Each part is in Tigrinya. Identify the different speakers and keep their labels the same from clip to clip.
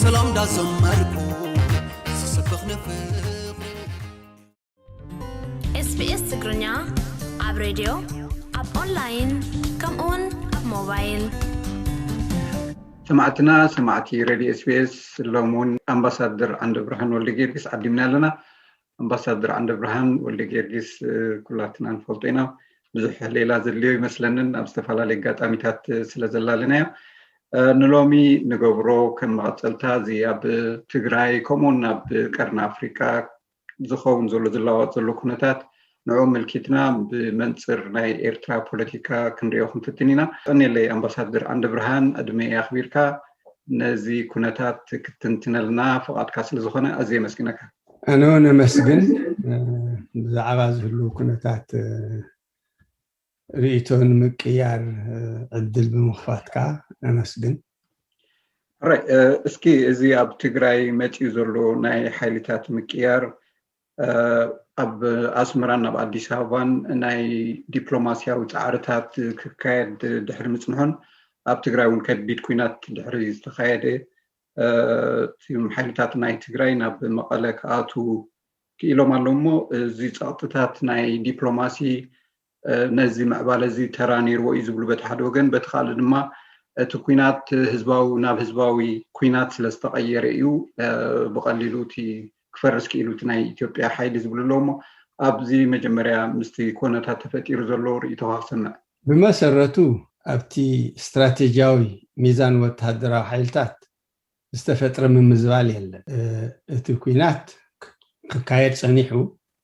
Speaker 1: ሰላም ዳዘመርኩ ዝሰብኽ ንፍቅሪ
Speaker 2: ኤስቢኤስ ትግርኛ ኣብ ሬድዮ ኣብ ኦንላይን ከምኡ ውን ኣብ ሞባይል ሰማዕትና
Speaker 3: ሰማዕቲ ረድዮ ኤስቢኤስ ሎም ውን ኣምባሳደር ዓንደብርሃን ወልደጊዮርጊስ ዓዲምና ኣለና ኣምባሳደር ዓንደብርሃን ወልደጊዮርጊስ ኩላትና ንፈልጦ ኢና ብዙሕ ሌላ ዘድልዮ ይመስለንን ኣብ ዝተፈላለዩ ኣጋጣሚታት ስለ ዘላለናዮ ንሎሚ ንገብሮ ከም መቐፀልታ እዚ ኣብ ትግራይ ከምኡውን ኣብ ቀርኒ ኣፍሪቃ ዝኸውን ዘሎ ዝለዋወጥ ዘሎ ኩነታት ንዑ ምልኪትና ብመንፅር ናይ ኤርትራ ፖለቲካ ክንሪኦ ክንፍትን ኢና ቀኒለይ ኣምባሳደር ዓንደ ብርሃን ዕድመ ኣኽቢርካ ነዚ ኩነታት ክትንትነልና ፍቓድካ ስለ ዝኾነ ኣዝየ መስግነካ ኣነ ውን
Speaker 4: ኣመስግን ብዛዕባ ዝህልው ኩነታት ርእይቶ ንምቅያር ዕድል ብምኽፋትካ ኣመስግን።
Speaker 3: ሕራይ እስኪ እዚ ኣብ ትግራይ መፂኡ ዘሎ ናይ ሓይልታት ምቅያር ኣብ ኣስመራን ኣብ ኣዲስ ኣበባን ናይ ዲፕሎማስያዊ ፃዕርታት ክካየድ ድሕሪ ምፅንሑን ኣብ ትግራይ እውን ከቢድ ኩናት ድሕሪ ዝተኻየደ እም ሓይልታት ናይ ትግራይ ናብ መቐለ ክኣትዉ ክኢሎም ኣለዉ እሞ እዚ ፀቕጥታት ናይ ዲፕሎማሲ ነዚ ምዕባለ እዚ ተራ ነይርዎ እዩ ዝብሉ በቲ ሓደ ወገን በቲ ካልእ ድማ እቲ ኩናት ህዝባዊ ናብ ህዝባዊ ኩናት ስለ ዝተቐየረ እዩ ብቐሊሉ እቲ ክፈርስ ክኢሉ እቲ ናይ ኢትዮጵያ ሓይሊ ዝብሉ ኣለዉ'ሞ ኣብዚ መጀመርያ ምስቲ ኮነታት ተፈጢሩ ዘሎ ርእይቶኻ ክሰምዕ። ብመሰረቱ
Speaker 4: ኣብቲ ስትራቴጂያዊ ሚዛን ወተሃደራዊ ሓይልታት ዝተፈጥረ ምምዝባል የለን። እቲ ኲናት ክካየድ ጸኒሑ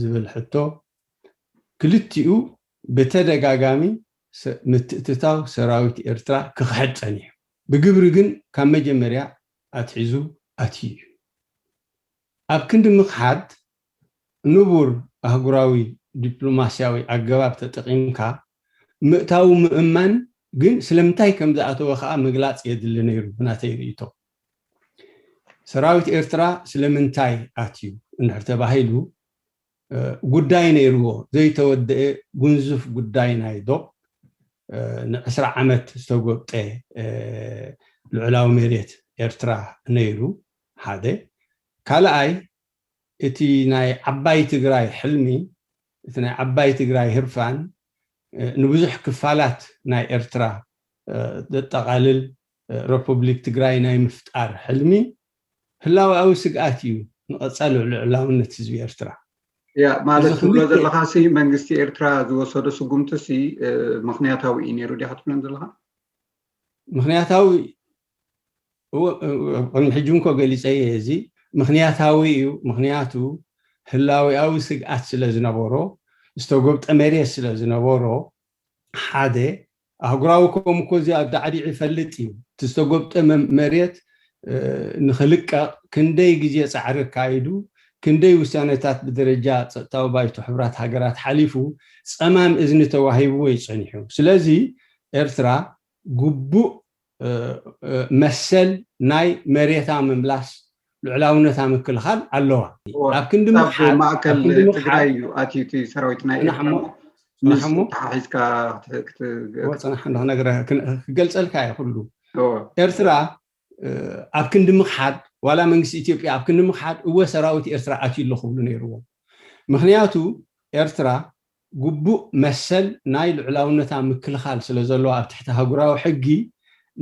Speaker 4: ዝብል ሕቶ ክልቲኡ ብተደጋጋሚ ምትእትታው ሰራዊት ኤርትራ ክኽሕድ ጸኒሑ ብግብሪ ግን ካብ መጀመርያ ኣትሒዙ ኣትዩ እዩ። ኣብ ክንዲ ምኽሓድ ንቡር ኣህጉራዊ ዲፕሎማስያዊ ኣገባብ ተጠቒምካ ምእታዉ ምእማን ግን ስለምንታይ ከምዝኣተወ ከኣ ምግላጽ የድሊ ነይሩ ብናተይ ርእይቶ። ሰራዊት ኤርትራ ስለምንታይ ኣትዩ እንድሕር ተባሂሉ፣ ጉዳይ ነይርዎ፣ ዘይተወደኤ ጉንዙፍ ጉዳይ ናይ ዶብ ን ዕስራ ዓመት ዝተጎብጠ ልዑላዊ መሬት ኤርትራ ነይሩ፣ ሓደ። ካልኣይ እቲ ናይ ዓባይ ትግራይ ሕልሚ፣ እቲ ናይ ዓባይ ትግራይ ህርፋን ንብዙሕ ክፋላት ናይ ኤርትራ ዘጠቓልል ረፑብሊክ ትግራይ ናይ ምፍጣር ሕልሚ ህላወኣዊ ስግኣት እዩ ንቐፃሊ ልዑላውነት ህዝቢ ኤርትራ። ያ ማለት እዚ
Speaker 3: ትብሎ ክልተ ዘለኻሲ መንግስቲ ኤርትራ ዝወሰዶ ስጉምቲሲ ምኽንያታዊ እዩ ነይሩ ዲኻ ትብለን ዘለኻ? ምኽንያታዊ
Speaker 4: እወ ቅድሚ ሕጂ እውን እኮ ገሊፀዮ እየ እዚ ምኽንያታዊ እዩ ምኽንያቱ ህላዌኣዊ ስግኣት ስለ ዝነበሮ ዝተጎብጠ መሬት ስለ ዝነበሮ ሓደ ኣህጉራዊ ኮም እኮ እዚ ኣዳዕዲዑ ይፈልጥ እዩ እቲ ዝተጎብጠ መሬት ንክልቀቅ ክንደይ ግዜ ፃዕሪ ኣካይዱ ክንደይ ውሳነታት ብደረጃ ፀጥታዊ ባይቶ ሕቡራት ሃገራት ሓሊፉ ፀማም እዝኒ ተዋሂብዎ እዩ ፀኒሑ ስለዚ ኤርትራ ግቡእ መሰል ናይ መሬታ ምምላስ ልዑላውነታ ምክልኻል ኣለዋ ኣብ
Speaker 3: ክንዲ ምሓብ
Speaker 4: ማእከል
Speaker 3: ትግራይ እዩ ኣትዩ
Speaker 4: እቲ ሰራዊት ናይ ኤርትራ ክገልፀልካ እዩ ኩሉ ኤርትራ ኣብ ክንዲ ምክሓድ ዋላ መንግስቲ ኢትዮጵያ ኣብ ክንዲ ምክሓድ እወ ሰራዊት ኤርትራ ኣትዩ ኣሎ ክብሉ ነይርዎም ምክንያቱ ኤርትራ ግቡእ መሰል ናይ ልዑላውነታ ምክልኻል ስለ ዘለዋ ኣብ ትሕቲ ኣህጉራዊ ሕጊ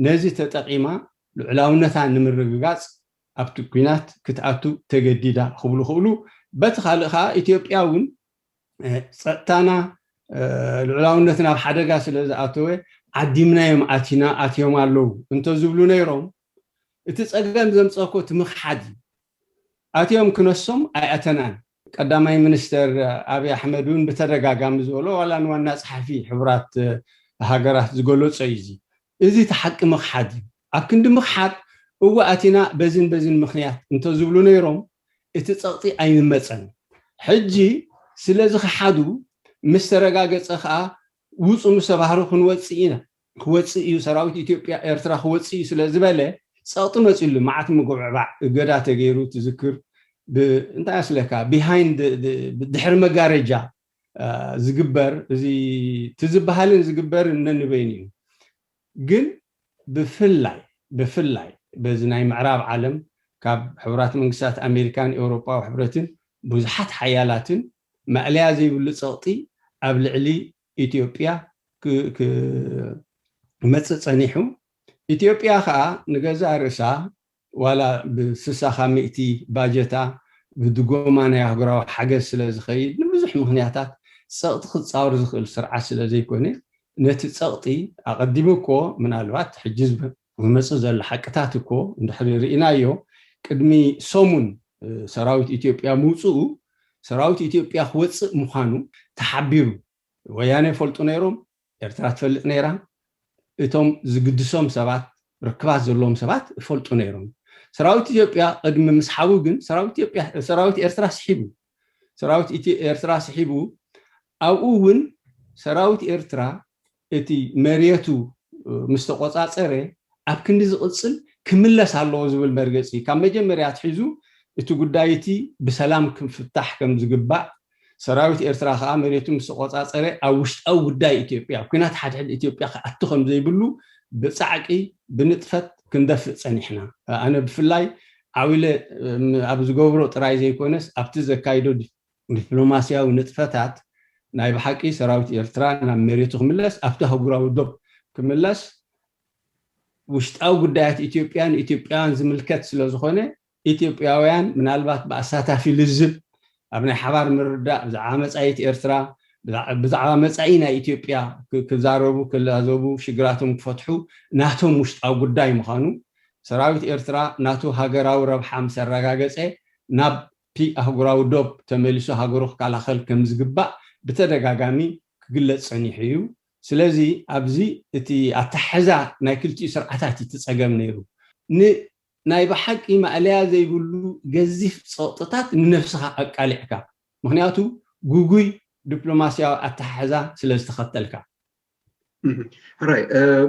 Speaker 4: ነዚ ተጠቒማ ልዑላውነታ ንምርግጋጽ ኣብቲ ኲናት ክትኣቱ ተገዲዳ ክብሉ ክእሉ። በቲ ካልእ ከኣ ኢትዮጵያ እውን ጸጥታና ልዑላውነትና ኣብ ሓደጋ ስለ ዝኣተወ ዓዲምናዮም ኣቲና ኣትዮም ኣለዉ እንተ ዝብሉ ነይሮም እቲ ጸገም ዘምጸእኮ እቲ ምኽሓድ እዩ። ኣትዮም ክነሶም ኣይኣተናን ቀዳማይ ሚኒስተር ኣብይ ኣሕመድ እውን ብተደጋጋሚ ዝበሎ ዋላ ንዋና ጸሓፊ ሕቡራት ሃገራት ዝገለጾ እዩ እዚ። እዚ እቲ ሓቂ ምኽሓድ እዩ። ኣብ ክንዲ ምኽሓድ እወ ኣቲና በዚን በዚን ምኽንያት እንተዝብሉ ነይሮም እቲ ጸቕጢ ኣይምመጸን። ሕጂ ስለዝኸሓዱ ምስ ተረጋገጸ ከኣ ውጹ ምስ ተባህሉ ክንወጽእ ኢና ክወጽእ እዩ ሰራዊት ኢትዮጵያ ኤርትራ ክወጽእ እዩ ስለ ዝበለ ጸቕጢ መጺሉ መዓት ምጉብዕባዕ እገዳ ተገይሩ ትዝክር ብ እንታይ ኣስለካ behind ድሕሪ መጋረጃ ዝግበር እዚ ትዝበሃልን ዝግበርን ነንበይኑ እዩ ግን ብፍላይ ብፍላይ በዚ ናይ ምዕራብ ዓለም ካብ ሕቡራት መንግስታት ኣሜሪካን ኤውሮጳዊ ሕብረትን ብዙሓት ሓያላትን ማእለያ ዘይብሉ ጸቕጢ ኣብ ልዕሊ ኢትዮጵያ ክመጽእ ጸኒሑ፣ ኢትዮጵያ ከኣ ንገዛእ ርእሳ ዋላ ብስሳኻ ሚእቲ ባጀታ ብድጎማ ናይ ኣህጉራዊ ሓገዝ ስለ ዝኸይድ ንብዙሕ ምኽንያታት ጸቕጢ ክጻወር ዝኽእል ስርዓት ስለ ዘይኮነ ነቲ ጸቕጢ ኣቐዲሙ እኮ ምናልባት ሕጂ ዝመጽእ ዘሎ ሓቅታት እኮ እንድሕሪ ርኢናዮ ቅድሚ ሰሙን ሰራዊት ኢትዮጵያ ምውጽኡ ሰራዊት ኢትዮጵያ ክወጽእ ምዃኑ ተሓቢሩ ወያነ ይፈልጡ ነይሮም ኤርትራ ትፈልጥ ነይራ እቶም ዝግድሶም ሰባት ርክባት ዘለዎም ሰባት ይፈልጡ ነይሮም ሰራዊት ኢትዮጵያ ቅድሚ ምስሓቡ ግን ሰራዊት ኢትዮጵያ ሰራዊት ኤርትራ ስሒቡ ሰራዊት ኢትዮ ኤርትራ ስሒቡ ኣብኡ ውን ሰራዊት ኤርትራ እቲ መሬቱ ምስ ተቖጻጸረ ኣብ ክንዲ ዝቕጽል ክምለስ ኣለዎ ዝብል መርገጺ ካብ መጀመርያ ኣትሒዙ እቲ ጉዳይ እቲ ብሰላም ክፍታሕ ከም ዝግባእ ሰራዊት ኤርትራ ከኣ መሬቱ ምስ ተቖጻጸረ ኣብ ውሽጣዊ ጉዳይ ኢትዮጵያ ኣብ ኲናት ሓድሕድ ኢትዮጵያ ክኣቱ ከም ዘይብሉ ብጻዕቂ ብንጥፈት ክንደፍእ ጸኒሕና ኣነ ብፍላይ ዓውለ ኣብ ዝገብሮ ጥራይ ዘይኮነስ ኣብቲ ዘካይዶ ዲፕሎማስያዊ ንጥፈታት ናይ ብሓቂ ሰራዊት ኤርትራ ናብ መሬቱ ክምለስ ኣብቲ ኣህጉራዊ ዶብ ክምለስ ውሽጣዊ ጉዳያት ኢትዮጵያ ንኢትዮጵያውያን ዝምልከት ስለዝኾነ ኢትዮጵያውያን ምናልባት ብኣሳታፊ ልዝብ ኣብ ናይ ሓባር ምርድዳእ ብዛዕባ መጻኢት ኤርትራ፣ ብዛዕባ መጻኢ ናይ ኢትዮጵያ ክዛረቡ፣ ክላዘቡ፣ ሽግራቶም ክፈትሑ ናቶም ውሽጣዊ ጉዳይ ምዃኑ፣ ሰራዊት ኤርትራ ናቱ ሃገራዊ ረብሓ ምስ ኣረጋገጸ ናብ'ቲ ኣህጉራዊ ዶብ ተመሊሱ ሃገሩ ክከላኸል ከም ዝግባእ ብተደጋጋሚ ክግለጽ ጸኒሑ ኢዩ። ስለዚ ኣብዚ እቲ ኣተሓሕዛ ናይ ክልቲኡ ስርዓታት ኢዩ እቲ ጸገም ነይሩ። ን ናይ ብሓቂ ማእለያ ዘይብሉ ገዚፍ ጸቕጥታት ንነብስኻ ኣቃሊዕካ፣ ምኽንያቱ ግጉይ ዲፕሎማስያዊ ኣተሓሕዛ ስለ ዝተኸተልካ።
Speaker 3: ሕራይ፣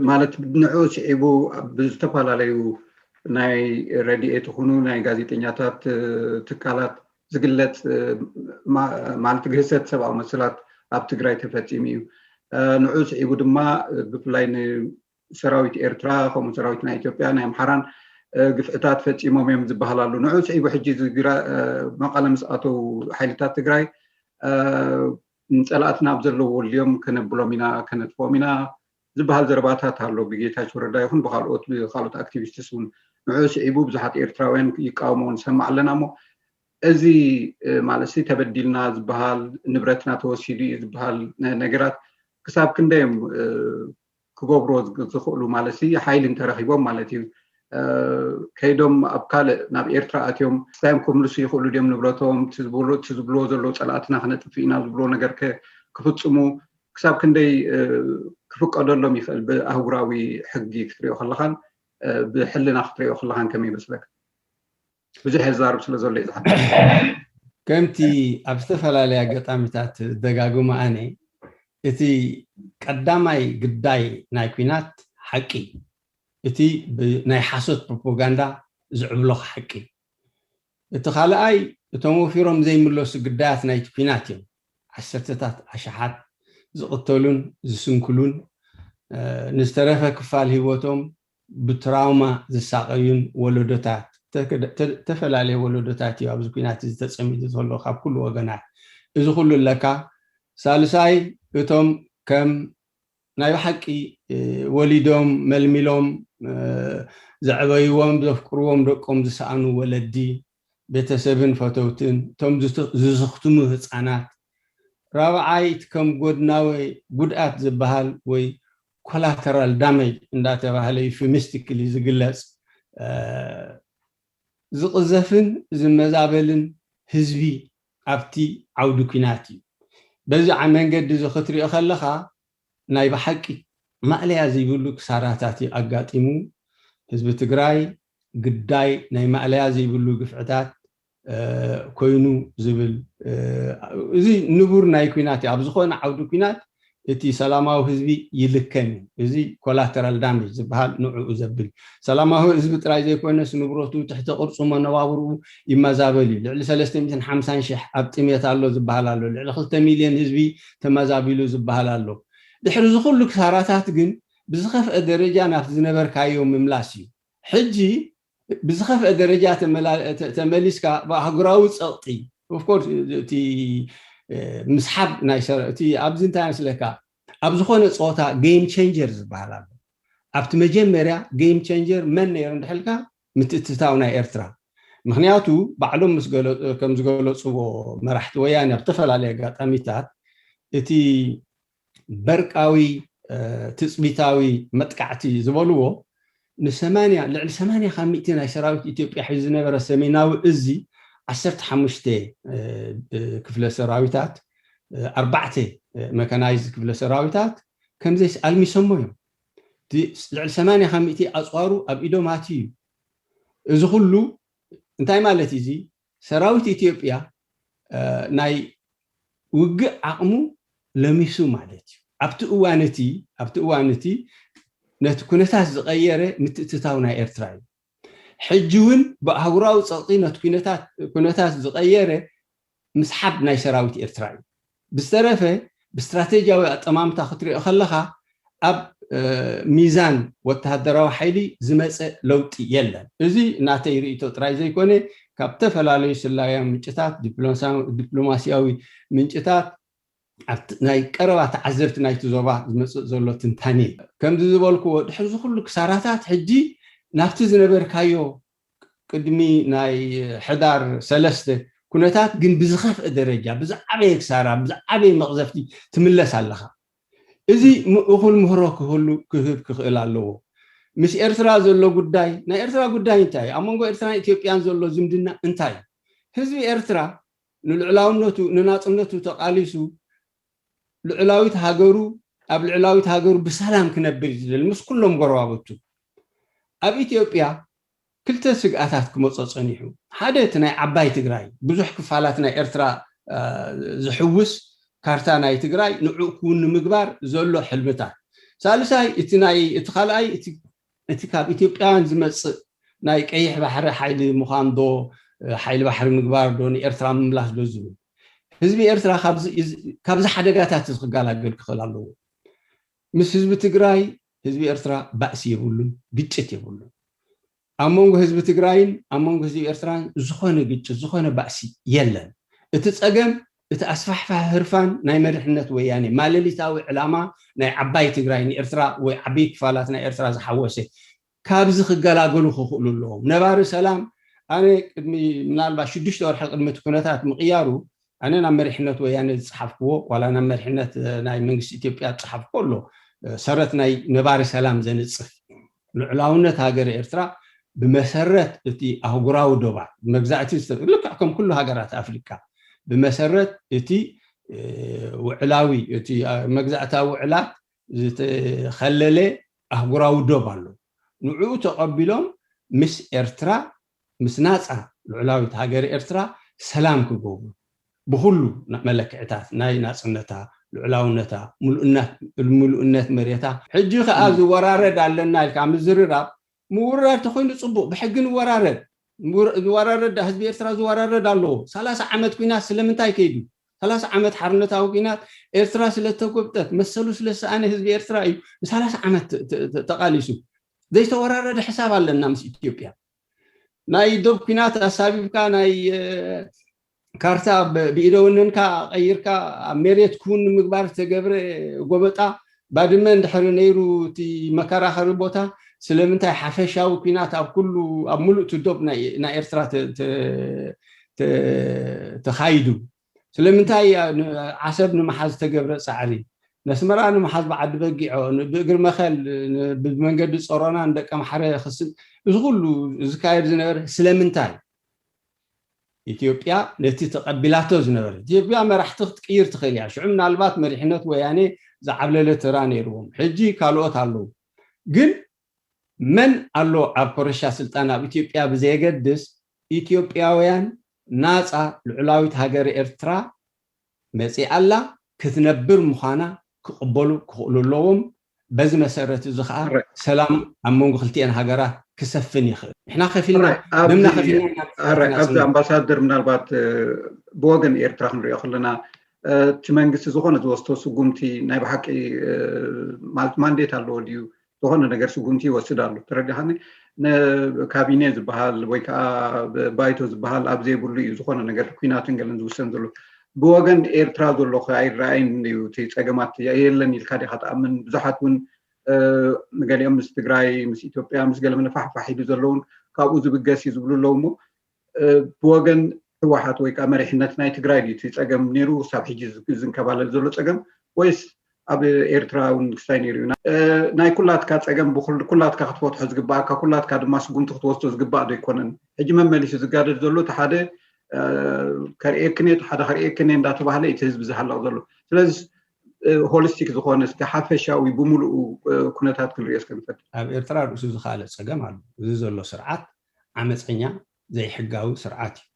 Speaker 3: ማለት ንዕኡ ስዒቡ ኣብ ዝተፈላለዩ ናይ ረድኤት ይኹኑ ናይ ጋዜጠኛታት ትካላት ዝግለጽ ማለት ግህሰት ሰብኣዊ መሰላት ኣብ ትግራይ ተፈጺሙ እዩ። ንዕኡ ስዒቡ ድማ ብፍላይ ሰራዊት ኤርትራ ከምኡ ሰራዊት ናይ ኢትዮጵያ ናይ ኣምሓራን ግፍዕታት ፈፂሞም እዮም ዝበሃል ኣሎ ንዑ ስዒቡ ሕጂ መቐለ ምስ ኣተው ሓይልታት ትግራይ ንፀላእትና ኣብ ዘለዎ ልዮም ከነብሎም ኢና ከነጥፍኦም ኢና ዝበሃል ዘረባታት ኣሎ ብጌታቸው ረዳ ይኹን ብካልኦት ብካልኦት ኣክቲቪስትስ እውን ንዑ ስዒቡ ብዙሓት ኤርትራውያን ይቃወሞ ንሰማዕ ኣለና እሞ እዚ ማለት ሲ ተበዲልና ዝበሃል ንብረትና ተወሲዱ እዩ ዝበሃል ነገራት ክሳብ ክንደዮም ክገብርዎ ዝኽእሉ ማለትሲ ሓይሊ እንተረኺቦም ማለት እዩ ከይዶም ኣብ ካልእ ናብ ኤርትራ ኣትዮም ስታዮም ክምልሱ ይኽእሉ ድዮም ንብረቶም እቲ ዝብልዎ ዘለዉ ፀላእትና ክነጥፍእ ኢና ዝብልዎ ነገር ከ ክፍፅሙ ክሳብ ክንደይ ክፍቀደሎም ይኽእል ብኣህጉራዊ ሕጊ ክትሪኦ ከለኻን ብሕልና ክትሪኦ ከለኻን ከመይ ይመስለካ? ብዙሕ የዛርብ ስለ ዘሎ እዩ ዝሓ ከምቲ
Speaker 4: ኣብ ዝተፈላለየ ኣጋጣሚታት ደጋግሞ ኣነ እቲ ቀዳማይ ግዳይ ናይ ኩናት ሓቂ እቲ ናይ ሓሶት ፕሮፓጋንዳ ዝዕብሎኽ ሓቂ እቲ ካልኣይ እቶም ወፊሮም ዘይምለሱ ግዳያት ናይቲ ኩናት እዮም ዓሰርተታት ኣሽሓት ዝቕተሉን ዝስንክሉን ንዝተረፈ ክፋል ህይወቶም ብትራውማ ዝሳቐዩን ወለዶታት፣ እተፈላለየ ወለዶታት እዩ ኣብዚ ኲናት እዚ ተጸሚዱ ዘሎ ካብ ኩሉ ወገናት። እዚ ኩሉ ኣለካ፣ ሳልሳይ እቶም ከም ናይ ብሓቂ ወሊዶም መልሚሎም ዘዕበይዎም ዘፍቅርዎም ደቆም ዝሰኣኑ ወለዲ፣ ቤተሰብን ፈተውትን፣ እቶም ዝስኽትሙ ህጻናት፣ ራብዓይ እቲ ከም ጎድናዊ ጉድኣት ዝበሃል ወይ ኮላተራል ዳመጅ እንዳተባህለ ዩፊሚስቲክሊ ዝግለጽ ዝቕዘፍን ዝመዛበልን ህዝቢ ኣብቲ ዓውዲ ኲናት እዩ። በዚ መንገዲ እዚ ክትሪኦ ከለኻ ናይ ብሓቂ ማእለያ ዘይብሉ ክሳራታት እዩ ኣጋጢሙ ህዝቢ ትግራይ። ግዳይ ናይ ማእለያ ዘይብሉ ግፍዕታት ኮይኑ ዝብል እዚ ንቡር ናይ ኩናት እዩ ኣብ ዝኾነ ዓውዲ ኩናት እቲ ሰላማዊ ህዝቢ ይልከም እዩ እዚ ኮላተራል ዳሜጅ ዝብሃል ንዕኡ ዘብል እዩ ሰላማዊ ህዝቢ ጥራይ ዘይኮነስ ንብረቱ ትሕተ ቅርጹ መነባብርኡ ይመዛበል እዩ ልዕሊ ሰለስተ ሚእትን ሓምሳን ሽሕ ኣብ ጥሜት ኣሎ ዝብሃል ኣሎ ልዕሊ ክልተ ሚልዮን ህዝቢ ተመዛቢሉ ዝብሃል ኣሎ ድሕሪ እዚ ኩሉ ክሳራታት ግን ብዝኸፍኤ ደረጃ ናብቲ ዝነበርካዮ ምምላስ እዩ። ሕጂ ብዝኸፍኤ ደረጃ ተመሊስካ ብኣህጉራዊ ጸቕጢ of course እቲ ምስሓብ ናይ ሰር እቲ ኣብዚ እንታይ መስለካ ኣብ ዝኾነ ጸወታ game changer ዝበሃል ኣሎ። ኣብቲ መጀመርያ game changer መን ነይሩ እንድሕር ኢልካ ምትእትታው ናይ ኤርትራ ምኽንያቱ ባዕሎም ምስ ገለ ከም ዝገለጽዎ መራሕቲ ወያነ ኣብ ዝተፈላለየ ኣጋጣሚታት እቲ በርቃዊ ትጽቢታዊ መጥቃዕቲ ዝበልዎ ንሰማንያ ልዕሊ ሰማንያ ካብ ሚእቲ ናይ ሰራዊት ኢትዮጵያ ሒዙ ዝነበረ ሰሜናዊ እዚ ዓሰርተ ሓሙሽተ ክፍለ ሰራዊታት ኣርባዕተ መካናይዝድ ክፍለ ሰራዊታት ከምዘይስ ኣልሚሶሞ እዮም እቲ ልዕሊ ሰማንያ ካብ ሚእቲ ኣፅዋሩ ኣብ ኢዶም ኣትዩ እዩ እዚ ኩሉ እንታይ ማለት እዩ እዚ ሰራዊት ኢትዮጵያ ናይ ውግእ ዓቕሙ ለሚሱ ማለት እዩ። ኣብቲ እዋን እቲ ኣብቲ እዋን እቲ ነቲ ኩነታት ዝቐየረ ምትእትታው ናይ ኤርትራ እዩ። ሕጂ እውን ብኣህጉራዊ ጸቕጢ ነቲ ኩነታት ኩነታት ዝቐየረ ምስሓብ ናይ ሰራዊት ኤርትራ እዩ። ብዝተረፈ ብስትራቴጂያዊ ኣጠማምታ ክትሪኦ ከለኻ ኣብ ሚዛን ወተሃደራዊ ሓይሊ ዝመጸ ለውጢ የለን። እዚ ናተይ ርኢቶ ጥራይ ዘይኮነ ካብ ዝተፈላለዩ ስለያዊ ምንጭታት፣ ዲፕሎማሲያዊ ምንጭታት፣ ኣብ ናይ ቀረባ ተዓዘብቲ ናይቲ ዞባ ዝመጽእ ዘሎ ትንታኔ እዩ። ከምዚ ዝበልክዎ ድሕሪ እዚ ኩሉ ክሳራታት ሕጂ ናብቲ ዝነበርካዮ ቅድሚ ናይ ሕዳር ሰለስተ ኩነታት ግን ብዝኸፍእ ደረጃ ብዝዓበየ ክሳራ ብዝዓበየ መቕዘፍቲ ትምለስ ኣለኻ እዚ እኹል ምህሮ ክህሉ ክህብ ክኽእል ኣለዎ ምስ ኤርትራ ዘሎ ጉዳይ ናይ ኤርትራ ጉዳይ እንታይ እዩ ኣብ መንጎ ኤርትራን ኢትዮጵያን ዘሎ ዝምድና እንታይ እዩ ህዝቢ ኤርትራ ንልዑላውነቱ ንናጽነቱ ተቓሊሱ ልዑላዊት ሃገሩ ኣብ ልዑላዊት ሃገሩ ብሰላም ክነብር እዩ ዝደሊ ምስ ኩሎም ጎረባብቱ። ኣብ ኢትዮጵያ ክልተ ስግኣታት ክመጾ ጸኒሑ። ሓደ እቲ ናይ ዓባይ ትግራይ ብዙሕ ክፋላት ናይ ኤርትራ ዝሕውስ ካርታ ናይ ትግራይ ንዕኡ ክውን ንምግባር ዘሎ ሕልምታት። ሳልሳይ እቲ ናይ እቲ ካልኣይ እቲ እቲ ካብ ኢትዮጵያውያን ዝመጽእ ናይ ቀይሕ ባሕሪ ሓይሊ ምዃን ዶ ሓይሊ ባሕሪ ምግባር ዶ ንኤርትራ ምምላስ ዶ ዝብል። ህዝቢ ኤርትራ ካብዚ ሓደጋታት እዚ ክጋላገል ክኽእል ኣለዎ። ምስ ህዝቢ ትግራይ ህዝቢ ኤርትራ ባእሲ የብሉን፣ ግጭት የብሉን። ኣብ መንጎ ህዝቢ ትግራይን ኣብ መንጎ ህዝቢ ኤርትራን ዝኾነ ግጭት ዝኾነ ባእሲ የለን። እቲ ጸገም እቲ ኣስፋሕፋሒ ህርፋን ናይ መሪሕነት ወያኔ ማለሊታዊ ዕላማ ናይ ዓባይ ትግራይ ንኤርትራ ወይ ዓብይ ክፋላት ናይ ኤርትራ ዝሓወሰ ካብዚ ክገላገሉ ክኽእሉ ኣለዎም። ነባሪ ሰላም ኣነ ቅድሚ ምናልባት ሽዱሽተ ወርሒ ቅድሚ እቲ ኩነታት ምቕያሩ ኣነ ናብ መሪሕነት ወያነ ዝጸሓፍክዎ ዋላ ናብ መሪሕነት ናይ መንግስቲ ኢትዮጵያ ዝጸሓፍክዎ ኣሎ ሰረት ናይ ነባሪ ሰላም ዘንጽፍ ልዑላውነት ሃገረ ኤርትራ ብመሰረት እቲ ኣህጉራዊ ዶባት መግዛእቲ ዝተ ልክዕ ከም ኩሉ ሃገራት ኣፍሪቃ ብመሰረት እቲ ውዕላዊ እቲ መግዛእታዊ ውዕላት ዝተኸለለ ኣህጉራዊ ዶብ ኣሎ። ንዕኡ ተቐቢሎም ምስ ኤርትራ፣ ምስ ናጻ ልዑላዊት ሃገር ኤርትራ ሰላም ክገብሩ፣ ብኹሉ መለክዕታት ናይ ናጽነታ፣ ልዑላውነታ፣ ምሉእነት መሬታ፣ ሕጂ ከኣ ዝወራረድ ኣለና ኢልካ ምዝርራብ ምውርራድ ተኮይኑ ጽቡቅ ብሕጊ ንወራረድ ንወራረድ ዳኣ ህዝቢ ኤርትራ ዝወራረድ ኣለዎ ሰላሳ ዓመት ኩናት ስለምንታይ ከይዱ ሰላሳ ዓመት ሓርነታዊ ኩናት ኤርትራ ስለተጎብጠት መሰሉ ስለዝሰኣነ ህዝቢ ኤርትራ እዩ ንሳላሳ ዓመት ተቃሊሱ ዘይተወራረደ ሕሳብ ኣለና ምስ ኢትዮጵያ ናይ ዶብ ኩናት ኣሳቢብካ ናይ ካርታ ብኢደ ወነንካ ቀይርካ ኣብ ሜሬት ክውን ንምግባር ዝተገብረ ጎበጣ ባድመ እንድሕሪ ነይሩ እቲ መከራኸሪ ቦታ ስለምንታይ ሓፈሻዊ ኩናት ኣብ ኩሉ ኣብ ሙሉእ እቲ ዶብ ናይ ኤርትራ ተኻይዱ? ስለምንታይ ዓሰብ ንምሓዝ ዝተገብረ ጻዕሪ? ነስመራ ንምሓዝ ብዓዲ በጊዖ፣ ብእግሪ መኸል፣ ብመንገዲ ጾሮና ንደቀምሓረ ክስብ እዚ ኩሉ ዝካየድ ዝነበረ ስለምንታይ? ኢትዮጵያ ነቲ ተቐቢላቶ ዝነበረት፣ ኢትዮጵያ መራሕቲ ክትቅይር ትኽእል እያ፣ ሽዑ ምናልባት መሪሕነት ወያኔ ዝዓብለለ ተራ ነይርዎም፣ ሕጂ ካልኦት ኣለዉ፣ ግን መን ኣሎ ኣብ ኮረሻ ስልጣን ኣብ ኢትዮጵያ ብዘየገድስ ኢትዮጵያውያን ናጻ ልዑላዊት ሃገረ ኤርትራ መጺኣ ኣላ፣ ክትነብር ምዃና ክቕበሉ ክኽእሉ ኣለዎም፣ በዚ መሰረት እዚ ከኣ ሰላም ኣብ መንጎ ክልቲኤን ሃገራት ክሰፍን ይኽእል። ንሕና ከፊልና ደምና ከፊልና ኢና ኣራይ ኣብዚ ንጽንበር።
Speaker 3: ኣምባሳደር ምናልባት ብወገን ኤርትራ ክንሪኦ ከለና እቲ መንግስቲ ዝኾነ ዝወስዶ ስጉምቲ ናይ ብሓቂ ማለት ማንዴት ኣለዎ ድዩ ዝኾነ ነገር ስጉምቲ ይወስድ ኣሎ ተረዲኻኒ ንካቢኔ ዝበሃል ወይ ከዓ ባይቶ ዝበሃል ኣብ ዘይብሉ እዩ ዝኾነ ነገር ኩናትን ገለን ዝውሰን ዘሎ ብወገን ኤርትራ ዘሎ ከ ኣይረኣይን ድዩ እቲ ጸገማት የለን ኢልካ ዲካ ትኣምን ብዙሓት ውን ንገሊኦም ምስ ትግራይ ምስ ኢትዮጵያ ምስ ገለ መለፋሕ ፋሕ ኢሉ ዘሎ ውን ካብኡ ዝብገስ ዩ ዝብሉ ኣለዉ እሞ ብወገን ህወሓት ወይ ከኣ መሪሕነት ናይ ትግራይ ድዩ እቲ ጸገም ኔሩ ክሳብ ሕጂ ዝንከባለል ዘሎ ጸገም ወይስ ኣብ ኤርትራ ውን ክስታይ ነይሩ እዩ። ናይ ኩላትካ ጸገም ኩላትካ ክትፈትሖ ዝግበኣካ ኩላትካ ድማ ስጉምቲ ክትወስዶ ዝግባእ ዶ ኣይኮነን? ሕጂ መመሊሱ ዝጋደድ ዘሎ እቲ ሓደ ከርእየክን እየ እቲ ሓደ ከርእየክን እየ እንዳተባህለ እዩ እቲ ህዝቢ ዝሃልቕ ዘሎ። ስለዚ ሆሊስቲክ ዝኾነ እስከ ሓፈሻዊ ብምሉኡ ኩነታት ክንርእዮ እስከ ንፈትን። ኣብ ኤርትራ ርእሱ
Speaker 4: ዝኸኣለ ጸገም ኣሎ። እዚ ዘሎ ስርዓት ዓመጸኛ ዘይሕጋዊ ስርዓት እዩ።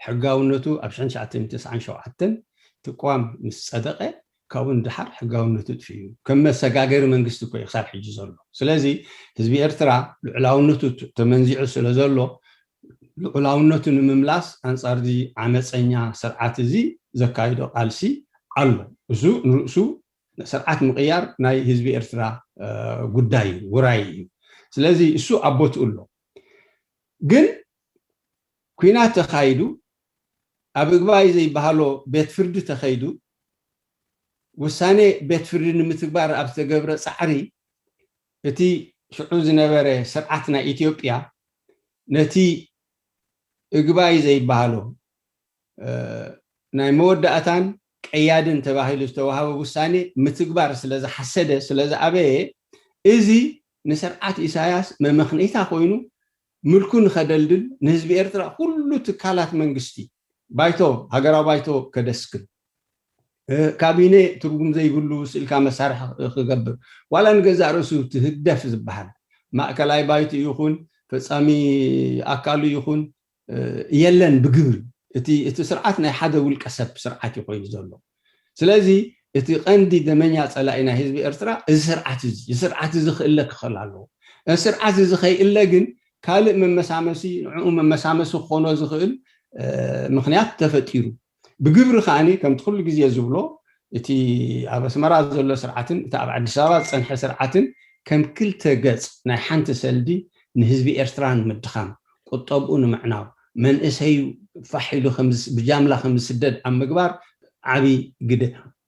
Speaker 4: ሕጋውነቱ ኣብ ሽሕን ትሽዓተን ሚእትን ተስዓን ሸውዓተን እቲ ቅዋም ምስ ጸደቐ ካብኡ ንደሓር ሕጋውነቱ ጥፊኡ ከም መሰጋገሪ መንግስቲ እኮ እዩ ክሳብ ሕጂ ዘሎ። ስለዚ ህዝቢ ኤርትራ ልዑላውነቱ ተመንዚዑ ስለ ዘሎ ልዑላውነቱ ንምምላስ ኣንጻርዚ ዓመጸኛ ስርዓት እዚ ዘካይዶ ቃልሲ ኣሎ። እሱ ንርእሱ ስርዓት ምቕያር ናይ ህዝቢ ኤርትራ ጉዳይ እዩ፣ ውራይ እዩ። ስለዚ እሱ ኣብ ቦትኡ ኣሎ። ግን ኩናት ተኻይዱ ኣብ እግባይ ዘይበሃሎ ቤት ፍርዲ ተኸይዱ ውሳኔ ቤት ፍርዲ ንምትግባር ኣብ ዝተገብረ ጻዕሪ እቲ ሽዑ ዝነበረ ስርዓት ናይ ኢትዮጵያ ነቲ እግባይ ዘይበሃሎ ናይ መወዳእታን ቀያድን ተባሂሉ ዝተዋህበ ውሳኔ ምትግባር ስለዝሓሰደ ስለዝኣበየ እዚ ንስርዓት ኢሳያስ መመኽነይታ ኮይኑ ምልኩ ንኸደልድል ንህዝቢ ኤርትራ ኩሉ ትካላት መንግስቲ ባይቶ ሃገራዊ ባይቶ ከደስክል ካቢነ ትርጉም ዘይብሉ ስእልካ መሳርሒ ክገብር ዋላ ንገዛእ ርእሱ እቲ ህግደፍ ዝበሃል ማእከላይ ባይትኡ ይኹን ፈጻሚ ኣካሉ ይኹን የለን ብግብሪ እቲ እቲ ስርዓት ናይ ሓደ ውልቀ ሰብ ስርዓት እዩ ኮይኑ ዘሎ ስለዚ እቲ ቀንዲ ደመኛ ጸላኢ ናይ ህዝቢ ኤርትራ እዚ ስርዓት እዚ እዚ ስርዓት እዚ ክእለ ክኸል ኣለዎ እዚ ስርዓት እዚ ከይእለ ግን ካልእ መመሳመሲ ንዕኡ መመሳመሲ ክኾኖ ዝኽእል ምኽንያት ተፈጢሩ ብግብሪ ከኣ ከምቲ ኩሉ ግዜ ዝብሎ እቲ ኣብ ኣስመራ ዘሎ ስርዓትን እቲ ኣብ ኣዲስ ኣበባ ዝጸንሐ ስርዓትን ከም ክልተ ገጽ ናይ ሓንቲ ሰልዲ ንህዝቢ ኤርትራ ንምድኻም፣ ቁጠብኡ ንምዕናው፣ መንእሰዩ ፋሕ ኢሉ ብጃምላ ከም ዝስደድ ኣብ ምግባር ዓቢ ግደ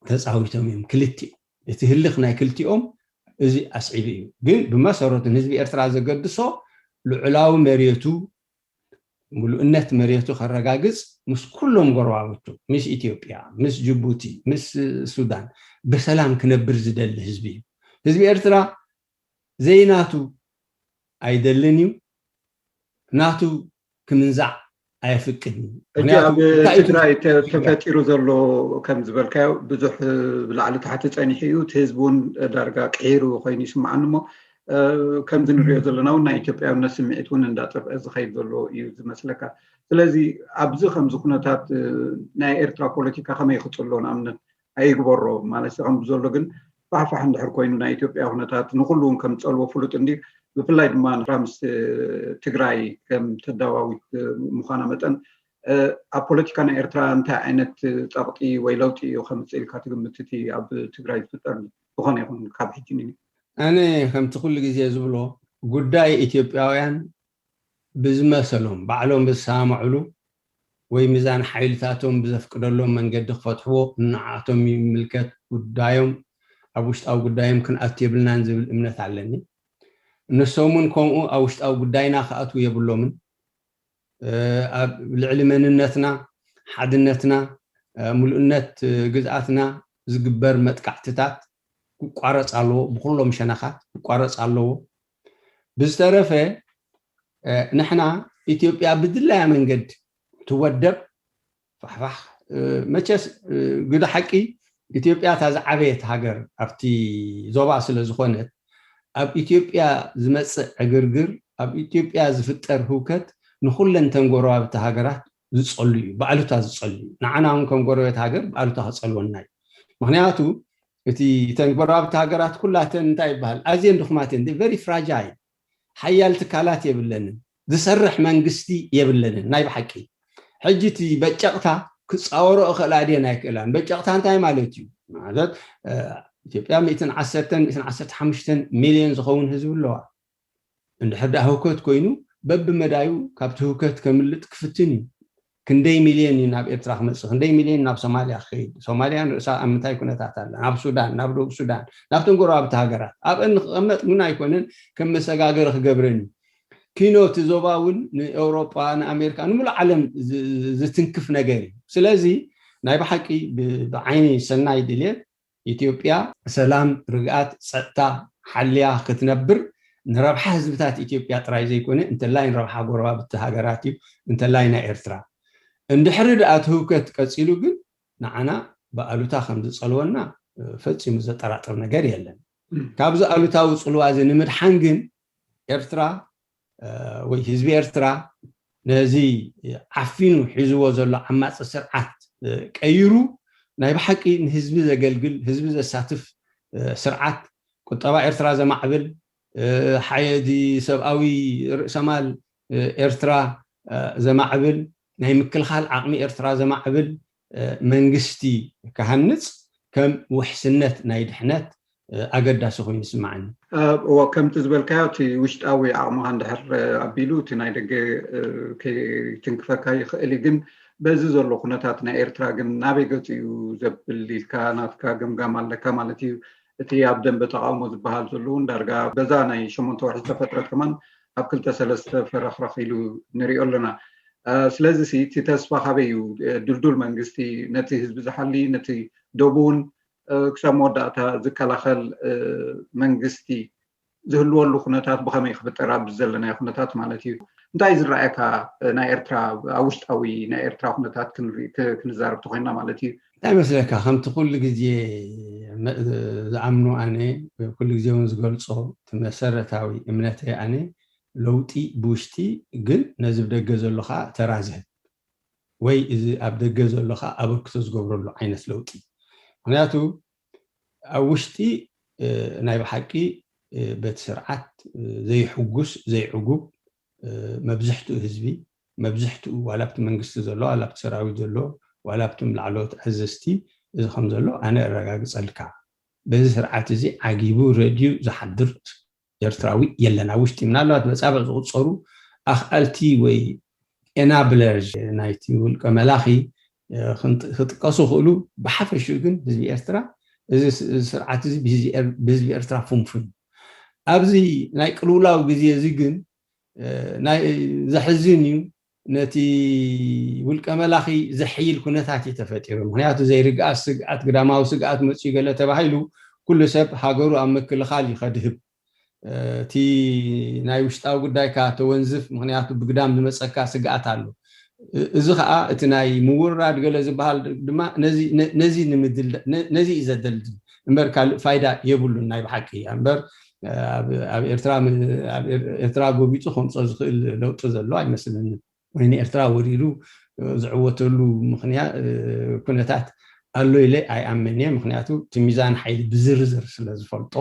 Speaker 4: ተጻዊቶም እዮም ክልቲኡ። እቲ ህልኽ ናይ ክልቲኦም እዚ ኣስዒቡ እዩ። ግን ብመሰረቱ ንህዝቢ ኤርትራ ዘገድሶ ልዑላዊ መሬቱ ምሉእነት መሬቱ ከረጋግጽ ምስ ኩሎም ጎረባብቱ፣ ምስ ኢትዮጵያ፣ ምስ ጅቡቲ፣ ምስ ሱዳን ብሰላም ክነብር ዝደሊ ህዝቢ እዩ። ህዝቢ ኤርትራ ዘይናቱ ኣይደልን እዩ፣ ናቱ ክምንዛዕ ኣየፍቅድን እዩ። ሕጂ ምኽንያቱ ኣብ
Speaker 3: እንታይ እዩ ትግራይ ተ- ክብል ይርዳእ። ተፈጢሩ ዘሎ ከም ዝበልካዮ ብዙሕ ብላዕሊ ታሕቲ ጸኒሑ እዩ እቲ ህዝቢ እውን ዳርጋ ቅሒሩ ኮይኑ ይስምዓኒ እሞ ከምዚ ንሪኦ ዘለና እውን ናይ ኢትዮጵያውነት ስምዒት እውን እንዳጠፍአ ዝኸይድ ዘሎ እዩ ዝመስለካ ስለዚ ኣብዚ ከምዚ ኩነታት ናይ ኤርትራ ፖለቲካ ከመይ ክፅሎ ንኣብነት ኣይግበሮ ማለት ከም ዘሎ ግን ፋሕፋሕ እንድሕር ኮይኑ ናይ ኢትዮጵያ ኩነታት ንኩሉ እውን ከም ፀልዎ ፍሉጥ እንዲ ብፍላይ ድማ ንራ ምስ ትግራይ ከም ተዳዋዊት ምዃና መጠን ኣብ ፖለቲካ ናይ ኤርትራ እንታይ ዓይነት ፀቕጢ ወይ ለውጢ እዩ ከምፅእ ኢልካ ትግምት እቲ ኣብ ትግራይ ዝፍጠር ዝኾነ ይኹን ካብ ሕጂ ን ኣነ
Speaker 4: ከምቲ ኩሉ ግዜ ዝብሎ ጉዳይ ኢትዮጵያውያን ብዝመሰሎም ባዕሎም ብዝሰማምዕሉ ወይ ሚዛን ሓይልታቶም ብዘፍቅደሎም መንገዲ ክፈትሕዎ ንዓኣቶም ይምልከት ጉዳዮም ኣብ ውሽጣዊ ጉዳዮም ክንኣቱ የብልናን ዝብል እምነት ኣለኒ። ንሶም ውን ከምኡ ኣብ ውሽጣዊ ጉዳይና ክኣትዉ የብሎምን። ኣብ ልዕሊ መንነትና፣ ሓድነትና፣ ምሉእነት ግዝኣትና ዝግበር መጥቃዕትታት ክቋረጽ ኣለዎ፣ ብኹሎም ሸነኻት ክቋረጽ ኣለዎ። ብዝተረፈ ንሕና ኢትዮጵያ ብድላያ መንገድ ትወደብ ፋሕፋሕ መቸስ ግደ ሓቂ ኢትዮጵያ እታ ዝዓበየት ሃገር ኣብቲ ዞባ ስለዝኾነት ኣብ ኢትዮጵያ ዝመጽእ ዕግርግር ኣብ ኢትዮጵያ ዝፍጠር ህውከት ንኹለንተን ጎረባብቲ ሃገራት ዝጸሉ እዩ ብኣሉታ ዝጸሉ እዩ ንዓና እውን ከም ጎረቤት ሃገር ብኣሉታ ክጸልወና እዩ ምክንያቱ እቲ ተን ጎረባብቲ ሃገራት ኩላተን እንታይ ይበሃል ኣዝየን ድኹማት እየን ቨሪ ፍራጃይል ሓያል ትካላት የብለንን ዝሰርሕ መንግስቲ የብለንን ናይ ብሓቂ ሕጂ እቲ በጨቅታ ክጻወሮ እኽእላ ድየን ኣይክእላን በጨቅታ እንታይ ማለት እዩ ማለት ኢትዮጵያ ሚእትን ዓሰርተን ሚእትን ዓሰርተ ሓሙሽተን ሚልዮን ዝኸውን ህዝቢ ኣለዋ እንድሕር ደኣ ህውከት ኮይኑ በብመዳዩ ካብቲ ህውከት ከምልጥ ክፍትን እዩ ክንደይ ሚልዮን እዩ ናብ ኤርትራ ክመጽእ ክንደይ ሚልዮን ናብ ሶማልያ ክኸይድ ሶማልያ ንርእሳ ኣብ ምንታይ ኩነታት ኣላ ናብ ሱዳን ናብ ደቡብ ሱዳን ናብቶም ጎረባብቲ ሃገራት ኣብአን ንክቐመጥ እውን ኣይኮነን ከም መሰጋገሪ ክገብረን እዩ ኪኖ እቲ ዞባ እውን ንኤውሮጳ ንኣሜሪካ ንምሉእ ዓለም ዝትንክፍ ነገር እዩ ስለዚ ናይ ብሓቂ ብዓይኒ ሰናይ ድልየት ኢትዮጵያ ሰላም፣ ርግኣት፣ ፀጥታ ሓሊያ ክትነብር ንረብሓ ህዝብታት ኢትዮጵያ ጥራይ ዘይኮነ እንተላይ ንረብሓ ጎረባብቲ ሃገራት እዩ፣ እንተላይ ናይ ኤርትራ። እንድሕሪ ድኣ እቲ ህውከት ቀፂሉ ግን ንዓና ብኣሉታ ከምዝፀልወና ፈፂሙ ዘጠራጥር ነገር የለን። ካብዚ ኣሉታዊ ፅልዋ እዚ ንምድሓን ግን ኤርትራ ወይ ህዝቢ ኤርትራ ነዚ ዓፊኑ ሒዝዎ ዘሎ ዓማጺ ስርዓት ቀይሩ ናይ ብሓቂ ንህዝቢ ዘገልግል ህዝቢ ዘሳትፍ ስርዓት ቁጠባ ኤርትራ ዘማዕብል ሓየት ሰብኣዊ ርእሰማል ኤርትራ ዘማዕብል ናይ ምክልኻል ዓቕሚ ኤርትራ ዘማዕብል መንግስቲ ክሃንጽ ከም ውሕስነት ናይ ድሕነት ኣገዳሲ ኮይኑ ይስማዓኒ። እወ ከምቲ
Speaker 3: ዝበልካዮ እቲ ውሽጣዊ ዓቕምኻ እንድሕር ኣቢሉ እቲ ናይ ደገ ከይትንክፈካ ይኽእል እዩ ግን በዚ ዘሎ ኩነታት ናይ ኤርትራ ግን ናበይ ገጹ እዩ ዘብል ኢልካ ናትካ ገምጋም ኣለካ ማለት እዩ እቲ ኣብ ደንበ ተቓውሞ ዝበሃል ዘሎ እውን ዳርጋ በዛ ናይ ሸሞንተ ወርሒ ዝተፈጥረት ከማን ኣብ ክልተ ሰለስተ ፈረኽረኽ ኢሉ ንሪኦ ኣሎና። ስለዚ ሲ እቲ ተስፋ ካበይ እዩ? ድልዱል መንግስቲ ነቲ ህዝቢ ዝሓሊ ነቲ ዶቡ እውን ክሳብ መወዳእታ ዝከላኸል መንግስቲ ዝህልወሉ ኩነታት ብኸመይ ክፍጠር ኣብዚ ዘለናዮ ኩነታት ማለት እዩ እንታይ እዩ ዝረኣየካ ናይ ኤርትራ ኣብ ውሽጣዊ ናይ ኤርትራ ኩነታት ክንዛረብ ተኮይንና ማለት እዩ እንታይ መስለካ ከምቲ
Speaker 4: ኩሉ ግዜ ዝኣምኖ ኣነ ኩሉ ግዜ ውን ዝገልጾ እቲ መሰረታዊ እምነተይ ኣነ ለውጢ ብውሽጢ ግን ነዚ ብደገ ዘሎ ከኣ ተራ ዝህብ ወይ እዚ ኣብ ደገ ዘሎ ከኣ ኣበርክቶ ዝገብረሉ ዓይነት ለውጢ ምክንያቱ ኣብ ውሽጢ ናይ ብሓቂ በቲ ስርዓት ዘይሕጉስ ዘይዕጉብ መብዝሕትኡ ህዝቢ መብዝሕትኡ ዋላ ኣብቲ መንግስቲ ዘሎ ዋላ ኣብቲ ሰራዊት ዘሎ ዋላ ኣብቶም ላዕለዎት ኣዘዝቲ እዚ ከም ዘሎ ኣነ እረጋግጸልካ በዚ ስርዓት እዚ ዓጊቡ ረድዩ ዝሓድር ኤርትራዊ የለን ኣብ ውሽጢ ምናልባት በጻብዕ ዝቁጸሩ ኣኽኣልቲ ወይ Enablers ናይቲ ውልቀ መላኺ ክጥቀሱ ይኽእሉ ብሓፈሽኡ ግን ህዝቢ ኤርትራ እዚ ስርዓት እዚ ብህዝቢ ኤርትራ ፍንፉን እዩ ኣብዚ ናይ ቅልውላው ግዜ እዚ ግን ናይ ዘሕዝን እዩ ነቲ ውልቀ መላኺ ዘሕይል ኩነታት እዩ ተፈጢሩ ምኽንያቱ ዘይርግኣት ስግኣት ግዳማዊ ስግኣት መጽዩ ገለ ተባሂሉ ኩሉ ሰብ ሃገሩ ኣብ ምክልኻል እዩ ከድህብ እቲ ናይ ውሽጣዊ ጉዳይካ ተወንዝፍ ምኽንያቱ ብግዳም ዝመጸካ ስግኣት ኣሎ እዚ ኸኣ እቲ ናይ ምውርራድ ገለ ዝበሃል ድማ ነዚ ነዚ ንምድል ነዚ እዩ ዘደልድል እምበር ካልእ ፋይዳ የብሉን ናይ ብሓቂ እምበር ኣብ ኤርትራ ጎቢጡ ከምፆ ዝኽእል ለውጢ ዘሎ ኣይመስለንን ወይ ንኤርትራ ወሪሩ ዝዕወተሉ ኩነታት ኣሎ ኢለ ኣይኣምን እየ ምኽንያቱ እቲ ሚዛን ሓይሊ ብዝርዝር ስለ ዝፈልጦ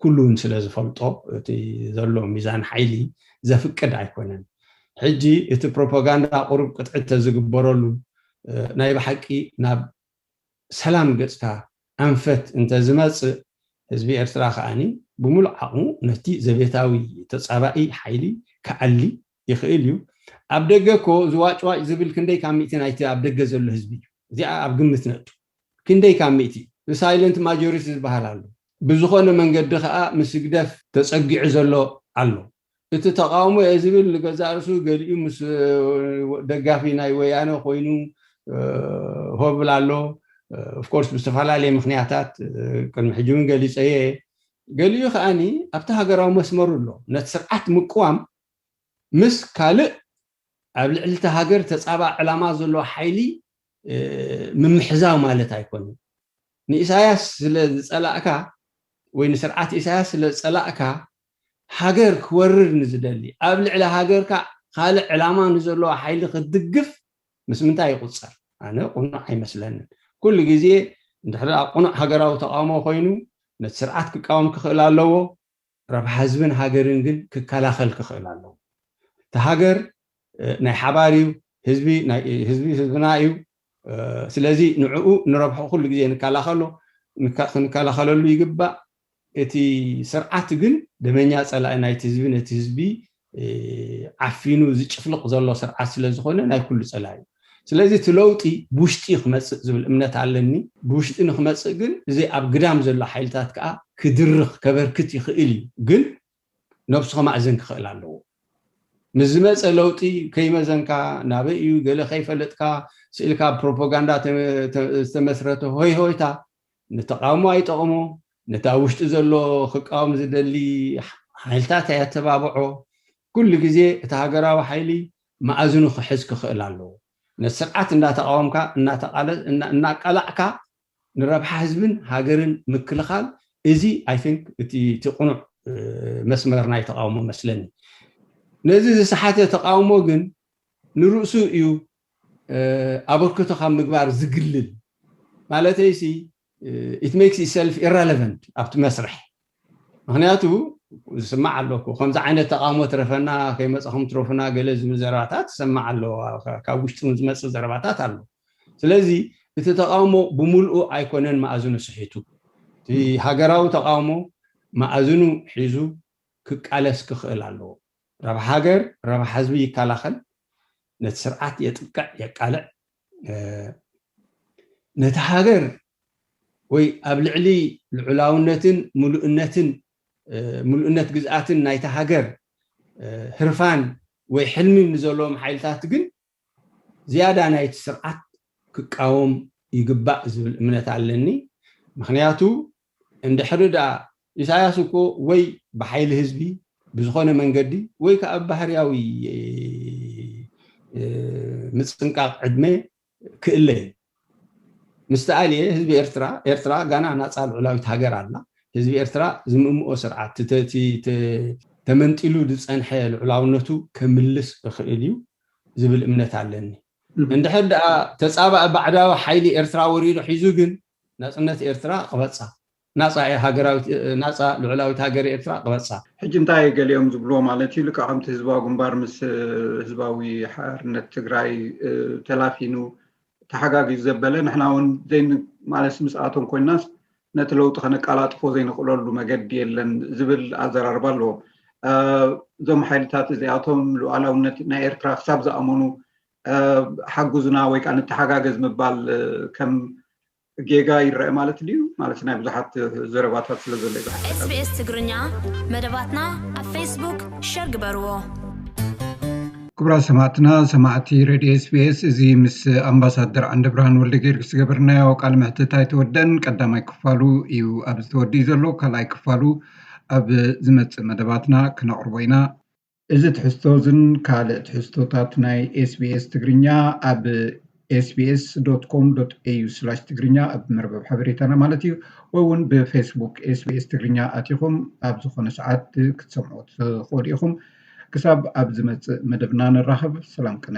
Speaker 4: ኩሉ እውን ስለ ዝፈልጦ እቲ ዘሎ ሚዛን ሓይሊ ዘፍቅድ ኣይኮነን ሕጂ እቲ ፕሮፓጋንዳ ቁሩብ ቅጥዒ ተዝግበረሉ ናይ ብሓቂ ናብ ሰላም ገጽካ ኣንፈት እንተ ዝመጽእ፣ ህዝቢ ኤርትራ ከኣ ብምሉእ ዓቕሙ ነቲ ዘቤታዊ ተጻባኢ ሓይሊ ክኣሊ ይኽእል እዩ። ኣብ ደገ እኮ ዝዋጭዋጭ ዝብል ክንደይ ካብ ሚእቲ ናይቲ ኣብ ደገ ዘሎ ህዝቢ እዩ። እዚኣ ኣብ ግምት ነእቱ። ክንደይ ካብ ሚእቲ? The Silent Majority ዝበሃል ኣሎ። ብዝኾነ መንገዲ ከኣ ምስ ህግደፍ ተጸጊዑ ዘሎ ኣሎ። እቲ ተቓውሞ እየ ዝብል ንገዛእ ርእሱ ገሊኡ ምስ ደጋፊ ናይ ወያነ ኮይኑ ሆ ይብል ኣሎ of course ብዝተፈላለየ ምኽንያታት ቅድሚ ሕጂ ውን ገሊጸዮ እየ ገሊኡ ከኣ ኣብቲ ሃገራዊ መስመሩ ኣሎ ነቲ ስርዓት ምቅዋም ምስ ካልእ ኣብ ልዕሊ እታ ሃገር ተጻባኢ ዕላማ ዘለዎ ሓይሊ ምምሕዛው ማለት ኣይኮነን ንኢሳያስ ስለ ዝጸላእካ ወይ ንስርዓት ኢሳያስ ስለ ዝጸላእካ ሃገር ክወርር ንዝደሊ፣ ኣብ ልዕሊ ሃገርካ ካልእ ዕላማ ንዘለዎ ሓይሊ ክትድግፍ ምስ ምንታይ ይቑጸር? ኣነ ቅኑዕ ኣይመስለንን። ኩሉ ግዜ እንድሕር ቅኑዕ ሃገራዊ ተቓውሞ ኮይኑ ነቲ ስርዓት ክቃወም ክኽእል ኣለዎ፣ ረብሓ ህዝብን ሃገርን ግን ክከላኸል ክኽእል ኣለዎ። እቲ ሃገር ናይ ሓባር እዩ፣ ህዝቢ ናይ ህዝቢ ህዝብና እዩ፣ ስለዚ ንዕኡ ንረብሕኡ ኩሉ ግዜ ንከላኸሎ ክንከላኸለሉ ይግባእ። እቲ ስርዓት ግን ደመኛ ጸላኢ ናይቲ ህዝቢ ነቲ ህዝቢ ዓፊኑ ዝጭፍልቕ ዘሎ ስርዓት ስለ ዝኾነ ናይ ኩሉ ጸላኢ እዩ። ስለዚ እቲ ለውጢ ብውሽጢ እዩ ክመጽእ ዝብል እምነት ኣለኒ። ብውሽጢ ንክመጽእ ግን እዚ ኣብ ግዳም ዘሎ ሓይልታት ከኣ ክድርኽ ከበርክት ይኽእል እዩ ግን ነብሱ ከማእዝን ክኽእል ኣለዎ። ምስ ዝመጸ ለውጢ ከይመዘንካ፣ ናበይ እዩ ገለ ከይፈለጥካ ስኢልካ ኣብ ፕሮፖጋንዳ ዝተመስረተ ሆይሆይታ ንተቓውሞ ኣይጠቕሞ፣ ነቲ ኣብ ውሽጢ ዘሎ ክቃወም ዝደሊ ሓይልታት ኣየተባብዖ። ኩሉ ግዜ እቲ ሃገራዊ ሓይሊ ማእዝኑ ክሕዝ ክኽእል ኣለዎ። ነቲ ስርዓት እንዳተቓወምካ እናቃላዕካ ንረብሓ ህዝብን ሃገርን ምክልኻል እዚ i think እቲ እቲ ቅኑዕ መስመር ናይ ተቓውሞ መስለኒ። ነዚ ዝሰሓተ ተቓውሞ ግን ንርእሱ እዩ ኣበርክቶ ካብ ምግባር ዝግልል። ማለተይሲ it makes itself irrelevant ኣብቲ መስርሕ። ምክንያቱ ዝስማዕ ኣሎ እኮ ከምዚ ዓይነት ተቃውሞ ትረፈና ከይመፃኹም ትረፉና ገለ ዝብል ዘረባታት ዝሰማዕ ኣሎ ካብ ውሽጢ እውን ዝመፅእ ዘረባታት ኣሎ ስለዚ እቲ ተቃውሞ ብምልኡ ኣይኮነን መኣዝኑ ስሒቱ እቲ ሃገራዊ ተቃውሞ መኣዝኑ ሒዙ ክቃለስ ክኽእል ኣለዎ ረብሓ ሃገር ረብሓ ህዝቢ ይከላኸል ነቲ ስርዓት የጥቅዕ የቃልዕ ነቲ ሃገር ወይ ኣብ ልዕሊ ልዑላውነትን ምሉእነትን ምሉእነት ግዝኣትን ናይታ ሃገር ህርፋን ወይ ሕልሚ ንዘለዎም ሓይልታት ግን ዝያዳ ናይቲ ስርዓት ክቃወም ይግባእ ዝብል እምነት ኣለኒ። ምኽንያቱ እንድሕሪ ደኣ ኢሳያስ እኮ ወይ ብሓይሊ ህዝቢ ብዝኾነ መንገዲ ወይ ከኣ ብባህርያዊ ምጽንቃቕ ዕድመ ክእለዩ ምስ ተኣልየ ህዝቢ ኤርትራ ኤርትራ ጋና ናጻ ልዑላዊት ሃገር ኣላ ህዝቢ ኤርትራ ዝምምኦ ስርዓት ትተቲ ተመንጢሉ ዝጸንሐ ልዑላውነቱ ከምልስ እኽእል እዩ ዝብል እምነት ኣለኒ እንድሕር ድኣ ተጻባኢ ባዕዳዊ ሓይሊ ኤርትራ ወሪሩ ሒዙ ግን ናጽነት ኤርትራ ክበጻ ናጻ እያ ሃገራዊት ናጻ ልዑላዊት ሃገር ኤርትራ ቅበጻ። ሕጂ እንታይ እየ ገሊኦም
Speaker 3: ዝብልዎ ማለት እዩ ልቃሕምቲ ህዝባዊ ግንባር ምስ ህዝባዊ ሓርነት ትግራይ ተላፊኑ ተሓጋጊዙ ዘበለ ንሕና እውን ዘይ ማለትስ ምስኣቶም ኮይናስ ነቲ ለውጢ ከነቃላጥፎ ዘይንኽእለሉ መገዲ የለን ዝብል ኣዘራርባ ኣለዎ እዞም ሓይልታት እዚኣቶም ሉዓላውነት ናይ ኤርትራ ክሳብ ዝኣመኑ ሓጉዝና ወይ ከዓ ንተሓጋገዝ ምባል ከም ጌጋ ይረኣ ማለት ድዩ ማለት ናይ ብዙሓት ዘረባታት ስለ ዘሎ ይብሓት SBS ትግርኛ
Speaker 2: መደባትና ኣብ ፌስቡክ ሸር ግበርዎ።
Speaker 3: ክቡራት ሰማዕትና ሰማዕቲ ሬድዮ ስቤስ እዚ ምስ ኣምባሳደር ዓንደብርሃን ወልደ ጊዮርጊስ ዝገበርናዮ ቃል ምሕትት ኣይተወደን ቀዳማይ ክፋሉ እዩ ኣብ ዝተወድእ ዘሎ ካልኣይ ክፋሉ ኣብ ዝመፅእ መደባትና ክነቕርቦ ኢና እዚ ትሕዝቶዝን ካልእ ትሕዝቶታት ናይ ኤስቢኤስ ትግርኛ ኣብ ኤስቢኤስ ዶት ኮም ዶት ኤዩ ስላሽ ትግርኛ ኣብ መርበብ ሓበሬታና ማለት እዩ ወይ እውን ብፌስቡክ ኤስቢኤስ ትግርኛ ኣቲኹም ኣብ ዝኾነ ሰዓት ክትሰምዑ ትኽእሉ ኢኹም። ክሳብ ኣብ ዝመጽእ መደብና ንራኸብ ሰላም ቅነ።